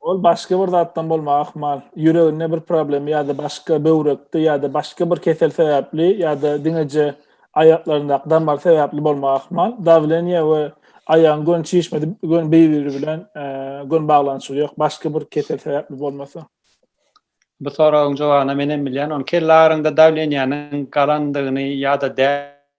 Ol başga bir zatdan bolmagy ahmal. Ýüreginde bir problemi ýa-da başga böwrekde ýa-da başga bir kesel sebäpli ýa-da diňeje aýaklaryndaky damar sebäpli bolmagy ahmal. Dawleniýe we aýagyň gön çişmesi gön bir-biri bilen gön baglanyşygy ýok. Başga bir kesel sebäpli bolmasa. Bu soragyň jogabyny men hem bilýän. Ony kelle agyryňda dawleniýäniň galandygyny ýa-da dä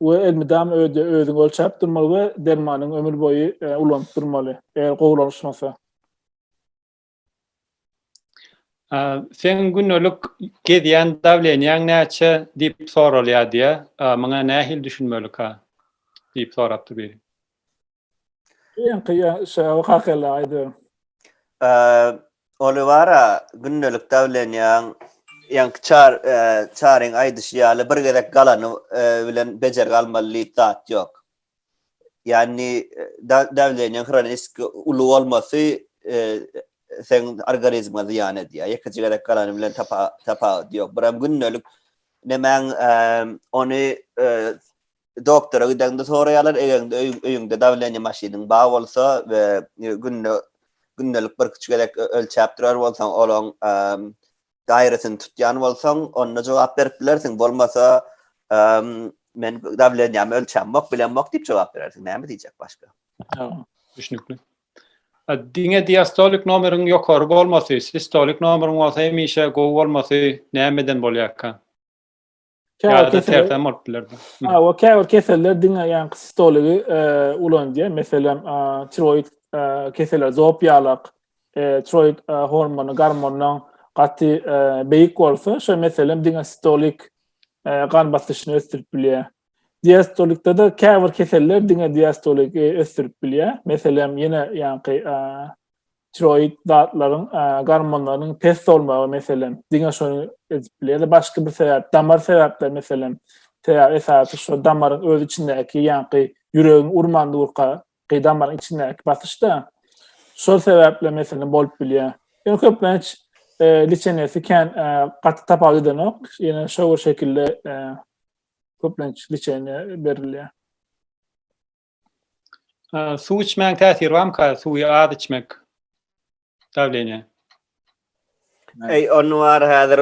we elmydama öýde özüňi ölçäp durmaly we dermanyňy ömür boýy ulanyp durmaly, eger gowulanşmasa. Seň gündelik gezýän dawleniýäň näçe diýip soralýar diýýär. Muňa nähili düşünmeli ka? diýip sorapdyr biri. Ýeňki ýaşaw hakynda aýdym. Olivara gündelik dawlenýaň ýaňky çar çaryň aýdyşy ýaly bir gezek galany bilen bejergi almaly diýip zat ýok. Ýagny dawlenýaň hronisk uly bolmasy seň organizme zyýan edýär. Ýekeje gezek galany bilen tapawudy ýok. Biram gündelik nemäň ony Doktora gideňde soraýarlar, egerinde öýüňde dawleniýe maşynyň bar bolsa we günde gündelik birküç gezek ölçäp durar bolsaň, olaň gaýratyny tutýan bolsaň, onda jogap berip bilersiň. Bolmasa, men dawleniýämi ölçämok, bilemok diýip jogap berersiň. Näme diýjek başga? Düşnükli. Diňe diastolik nomeriň ýokary bolmasy, sistolik nomeriň bolsa hemişe gowy bolmasy nämeden bolýarka? Käbir keseller bolup biler. Ha, o käbir keseller diňe ýa stoligi e, ulanýar. Meselem, e, tiroid e, keseller zop ýalak, tiroid hormony gormondan gaty beýik bolsa, şo meselem diňe stolik gan basyşyny ösdürip bilýär. Diastolikde de käbir keseller diňe diastolik ösdürip bilýär. Meselem, ýene ýaňky tiroid zatlaryň, gormonlaryň pes bolmagy meselem, diňe şony edip biler. Ýa-da başga bir sebäp, damar sebäpleri meselem, sebäbi esasy şu damaryň öz içindäki ýaňky ýüregiň urman durka damaryň içindäki basyşda. Şol sebäpli meselem bolup bilýär. Ýöne köplenç liçenesi kän gaty tapawut edenok. Ýöne şower şekilde köplenç liçeniýe berilýär. Suw içmäň täsiri barmyka? Suwy az içmek. Dawleniýe. Eý, onu bar häzir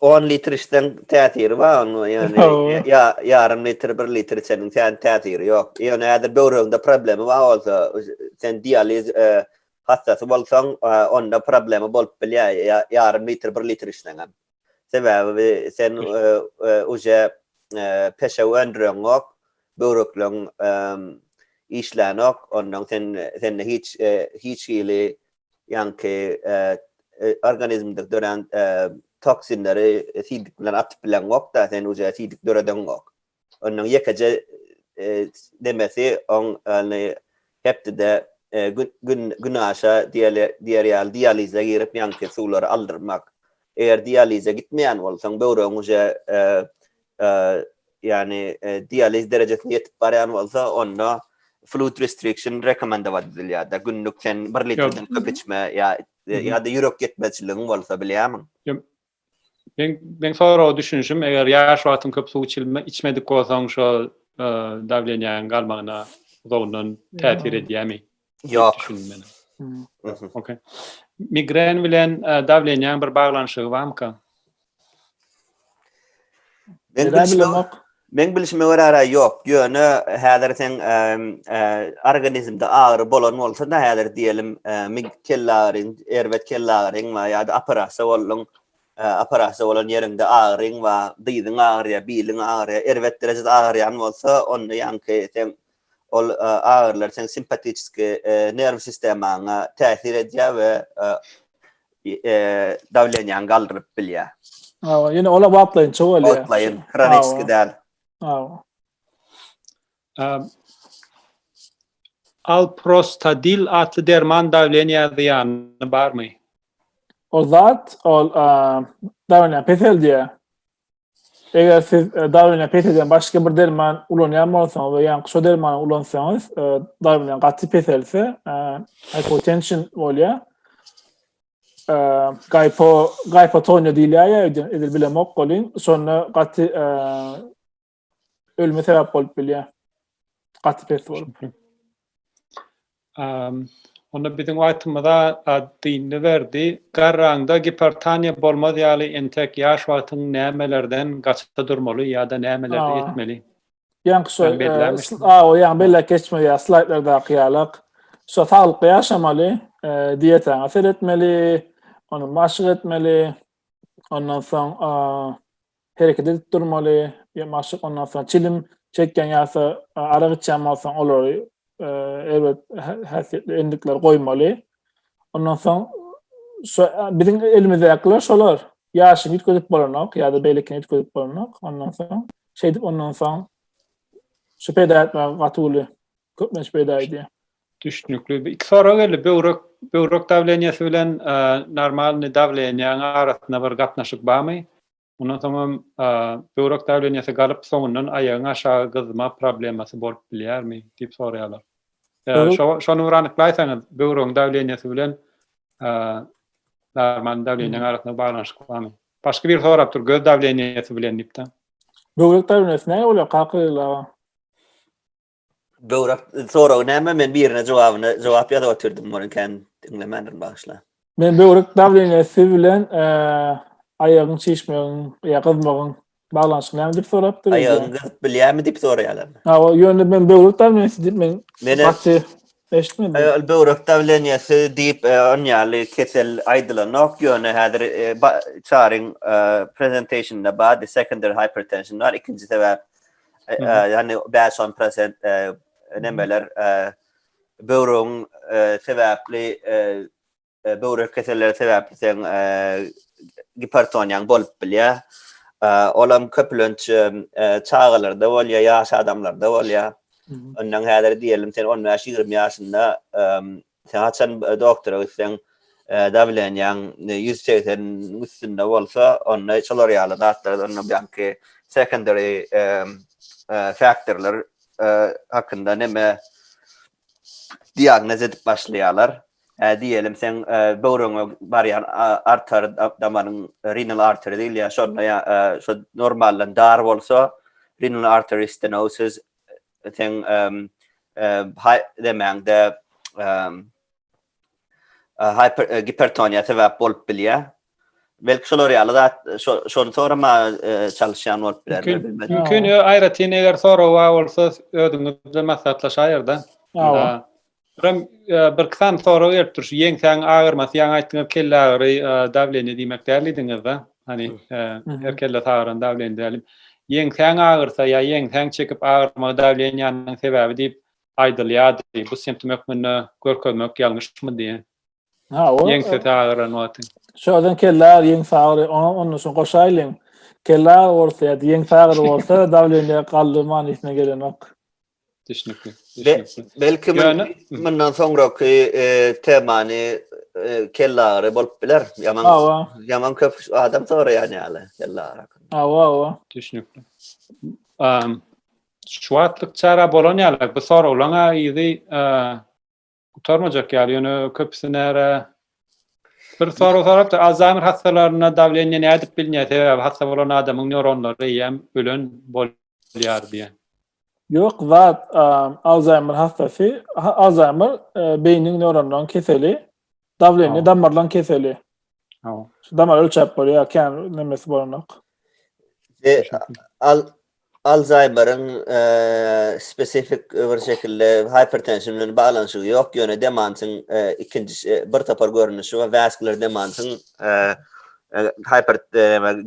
10 e, litr içseň täsiri bar onu ýöne ýa ýarym litr 1 litr içseniň sen täsiri ýok. Ýöne häzir böwreginde problemi bar bolsa, sen dializ e, hassasy bolsaň, e, onda problemi bolup bilýär ýarym litr 1 litr içseň hem. Sebäbi sen uje peşew öndüreňok, böwrekleň işlänok, ondan sen sende hiç hiç hili ýaňky organizmde dörän toksinleri siýdik bilen atyp bileňok-da, sen uje siýdik döredeňok. Onuň ýekeje nemesi oň ýaly hepdede günaşa diýer ýaly dialize girip ýaňky suwlary aldyrmak. Eger dialize gitmeýän bolsaň, böwregiň uje ýany dializ derejesine ýetip barýan bolsa, onda fluid restriction rekomendować edilýär-de, günlük sen bir litrden köp içme ýa-da ýürek ýetmezçiligiň bolsa, bilýärmiň? Men men soraga düşünişim, eger ýaş wagtyň köp suw içilme, içmedik bolsaň şo dawleniýäň galmagyna uzagyndan täsir edýärmi? Ýok. Okey. Migren bilen dawleniýäň bir baglanyşygy barmyka? Migren bilen Meň bilişime görä ýok, ýöne häzir seň organizmde agyry bolan bolsa-da häzir diýelim migd kellagyryň, erbet kellagyryň bar ýa-da operasiýa bolduň, operasiýa bolan ýeriňde agyryň bar, dyzyň agyrýar, biliň agyrýar, erbet derejede agyrýan bolsa onda ýaňky seň Ol agyrylar seň simpatiçeski nerw sistemaňa täsir edýär we dawleniýaňy galdyryp bilýär. Hawa, ýöne olar wagtlaýynça bolýar. Wagtlaýyn, hroniki däl. Hawa. Alprostadil atly derman dawleniýä zyýany barmy? Ol zat, ol dawleniýany peseldýär. Eger siz e, darwine pes eden başga bir derman ulanýan bolsaňyz we ýaňky şu dermany ulansaňyz, e, darwinden gaty peselse, e, hypotension bolýar. E, gaypo, gaypotonya diýilýär, edil bilemok bolin. Şonda gaty e, ölüme sebäp bolup bilýär. Gaty pes bolup. Um, onda biziň wagtymyzda dinni berdi. Garraňda gipertoniýa bolmaz ýaly entek ýaş wagtyň nämelerden gaçyp durmaly ýa-da nämeleri etmeli? Ýaň şu, a, o ýaň bellek geçmeli ýa slaýdlardaky ýalak. Şu saglyk ýaşamaly, e, diýetaňa seretmeli, ony maşyk etmeli. Ondan soň, a, hereket edip durmaly, ýa maşk ondan soň çilim çekýän ýa-da arak içýän bolsaň olary erbet häsiýetli endikleri goýmaly. Ondan soň şu biziň elimizdekiler şolar. Ýaşyny üýtgedip bolanok ýa-da beýlekini üýtgedip bolanok. Ondan soň şeýdip ondan soň şu peýda etmäge gaty uly köplenç peýda edýär. Düşnükli. Iki sorag geldi. Böwrek böwrek dawleniýesi bilen normalny dawleniýäň arasynda bir gatnaşyk barmy? Ondan soňam böwrek dawleniýesi galyp soňundan aýagyň aşagy gyzma problemasy bolup bilýärmi diýip soraýarlar. Şony bir anyklaýsaňyz, böwregiň dawleniýesi bilen normalny dawleniýäň arasynda baglanyşyk barmy? Başga bir sorapdyr, göz dawleniýesi bilen diýipdi. Böwrek dawleniýesi näme bolýar kaka Gyzyl aga? Böwrak soragy näme? Men birine jogabyny jogap ýazyp otyrdym, muny kän diňlemändirin bagyşla. Men böwrek dawleniýasy bilen aýagyň çişmegiň ýa gyzmagyň baglanyşyk näme diýip sorapdyr. Aýagyň gyzyp bilýärmi diýip soraýarlar. Ha, ýöne men böwrek dawleniýasy diýip men gaty eşitmedim. Böwrek dawleniýasy diýip on ýaly kesel aýdylanok, ýöne häzir çaryň presentationynda bar, secondary hypertension bar, ikinji sebäp Yani 5-10 prosent nemeler böwrügiň sebäpli böwrek keselleri sebäpli sen gipertoniýaň bolup bilýär. Olam köplenç çagalarda bolýar, ýaş adamlarda bolýar. Ondan häzir diýelim sen 15-20 ýaşynda Sen haçan doktora gitseň, dawlenýaň ýüz segseniň üstünde bolsa, onda şolar ýaly zatlar, onda ýaňky secondary faktorlar hakynda neme diagnoz edip başlaýarlar. Diýelim, seň böwrüňe barýan artary damaryň, renal artery diýilýär, şonda ýa-da şo normaldan dar bolsa, renal artery stenosis, sen hay demäňde hyper gipertoniýa sebäp bolup bilýär. Belki şolar ýaly zat şony sorama çalyşýan bolup biler. Mümkin, aýratyn eger sorag bar bolsa özümiz bilen maslahatlaşaýyr-da. Ram bir kysam sorag gelip dur şu ýeňsäň agyrmasy ýaňy aýtdyňyz kelle agyry dawleniýe diýmek däl diýdiňiz da hani her kelle sagyran dawleniýe däl ýeňsäň agyrsa ýa ýeňsäň çekip agyrmagy dawleniýanyň sebäbi diýip aýdylýardy bu simptom hökmünde görkezmek ýalňyşmy diýen Ha, o. Ýeňse sagyran wagty. Şodan kella ýeň sagry, onda şo goşaýlyň. Kella bolsa ýa ýeň sagry bolsa dawleniýe galdy manysyna gelenok. Düşnükli. Düşnükli. Belki mundan soňraky e, temany e, kella agry bolup biler. Ýaman. Hawa. Ýaman köp adam soraýan ýaly kella agry. Hawa, hawa. Düşnükli. Şu wagtlyk çara bolan ýaly bu soraglaryň aýyzy e, Gutarmajak ýaly, ýöne köpüsi nära Bir soru sorapdy, Alzheimer hastalarynda dawleniýe nädip bilinýär? Sebäbi hassa bolan adamyň neuronlary eýýäm ölen bolýar diýen. Ýok, zat Alzheimer hassasy, Alzheimer e, beýniň neuronlaryň keseli, dawleniýe damarlaryň keseli. Şu damar ölçäp bolýar, kän nemesi bolanok. E, al Alzaýmeriň spesifik bir şekilde hipertension bilen baglanyşygy ýok, ýöne demansyň ikinji bir topar görnüşi we waskular demansyň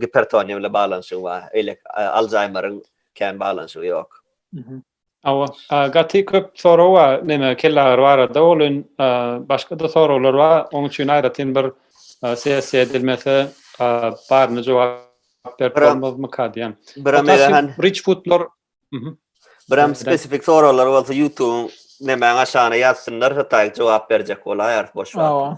gipertoniýa bilen baglanyşygy bar. Eýle Alzaýmeriň kän baglanyşygy ýok. Hawa, gaty köp sorag bar, neme kellagyry barada, ol in başga-da soraglar bar, oň üçin aýratyn bir sessiýa edilmese, baryny jogap berip bolmazmyka diýýän. Biram eýlehan. Rich foodlar. Biram spesifik soraglar bolsa, ýutubyň nemäň aşagyna ýazsynlar, hytaý jogap berjek bolaýar, boş wagtynda.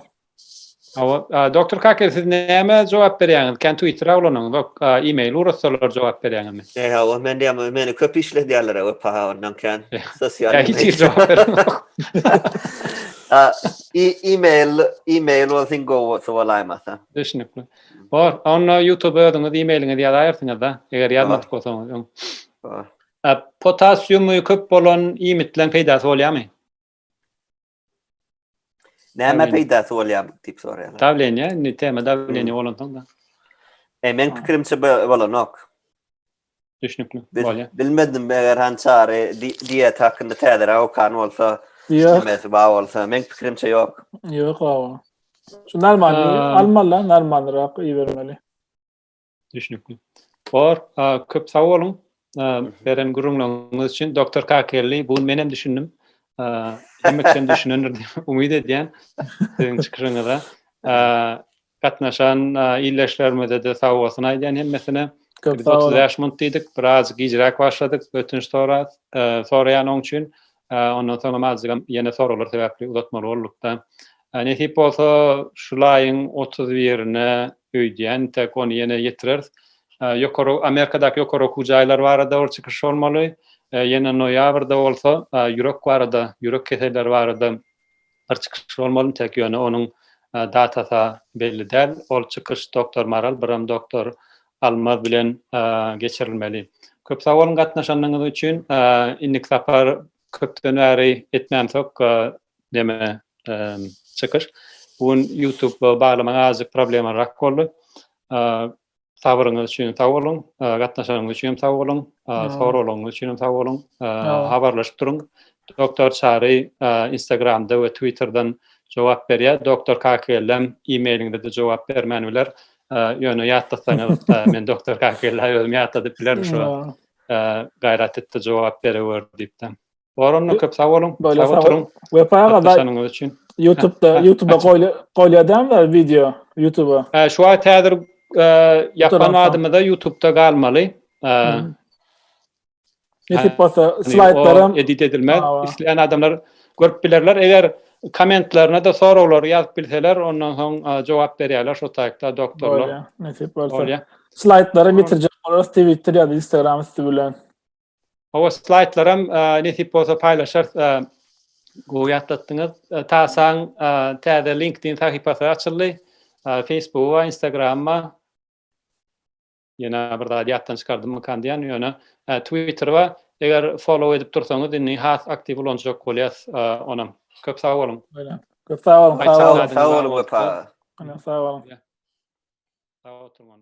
Hawa, doktor Kake, siz näme jogap berýäňiz? Kän Twittera ulanyňyzok, e-mail urutsalar jogap berýäňizmi? He, hawa, men diýýän, meni köp işledýärler, we paha ondan kän sosial. Hiç hili jogap berenok. A, e-mail, e-mail bolsa iň gowusy bolaýmasa. Düşnükli. Bor, onda YouTube özüňiz e-mailiňizi ýazaýarsyňyz-da, eger ýazmadyk bolsaňyz öň. Bor. Potasiumy köp bolan iýmitleň peýdasy bolýarmy? Näme peýdasy bolýar diýip soraýarlar. Dawleniýe, indi tema dawleniýe hmm. bolansoň da. E, men pikirimçe bolanok. Düşnükli. Bolýar. Bilmedim, eger hançary diýet hakynda täzeräk okan bolsa, nämäsi bar bolsa, men pikirimçe ýok. Ýok, awa. Şu normalny almaly, normalnyrak ibermeli. Düşnükli. Tor, köp sag boluň. Beren gürrüňleriňiz üçin doktor Kakelli, bu gün men hem düşündim. Hemme kişi düşünendir diýip umyt edýän siziň çykyşyňyza. Gatnaşan ildeşlerimize-de sag bolsun aýdýan hemmesine. Biz 35 minut diýdik, biraz gijräk başladyk. Ötünç soraýan oň üçin. Ondan soňam azajygam ýene soraglar sebäpli uzatmaly bolduk-da. Nesip bolsa, şul aýyň otuz birine öýdýän, entek ony ýene ýetireris. Ýokary, Amerikadaky ýokary okuw jaýlary barada bir çykyş bolmaly. Ýene noýabrda bolsa, ýürek barada, ýürek keselleri barada bir çykyş bolmalymy tek ýöne onuň datasy belli däl ol çykyş doktor Maral biram doktor Almaz bilen geçirilmeli. Köp sag boluň gatnaşanyňyz üçin indiki sapar köpden bäri etmämsok neme çykyş bu gün ýutub baglamaga azajyk problemarak boldy. Sabryňyz üçin sag boluň. Gatnaşanyňyz üçin hem sag boluň. Soraglaryňyz üçin hem sag boluň. Habarlaşyp duruň. Doktor Çary Instagramda we Twitterden jogap berýär. Doktor Kakellem e-mailiňde de jogap bermän biler. Ýöne ýatlatsaňyz, men doktor Kakelle özüm ýatladyp bilerin şo. Gaýrat etdi jogap berewer diýipden. Goranda köp sag boluň. Sag oturyň. Wepa aga YouTube-da YouTube-a goýly goýýadamda wideo YouTube-a. Ha, şu wagt häzir e, ýapan adymyza YouTube-da galmaly. E, Nesip bolsa slaýdlaram edit edilmez. Isleýän adamlar görüp bilerler. Eger kommentlerine de soraglary ýazyp bilseler, ondan soň e, jogap berýärler şu taýda doktorlar. Nesip bolsa. Slaýdlary bitirjek bolarys Twitter ýa-da Instagram üsti bilen. Hawa, slaýdlaram nesip bolsa paýlaşarys. Gowy ýatlatdyňyz. Tasaň täze LinkedIn sahypasy açyldy. Facebook we Instagram we ýene bir zat ýatdan çykardymykan diýýän, ýöne Twitter we eger follow edip dursaňyz indi has aktiw ulanjak bolýas onam. Köp sag boluň. Köp sag boluň. Sag boluň. Sag boluň. Sag boluň.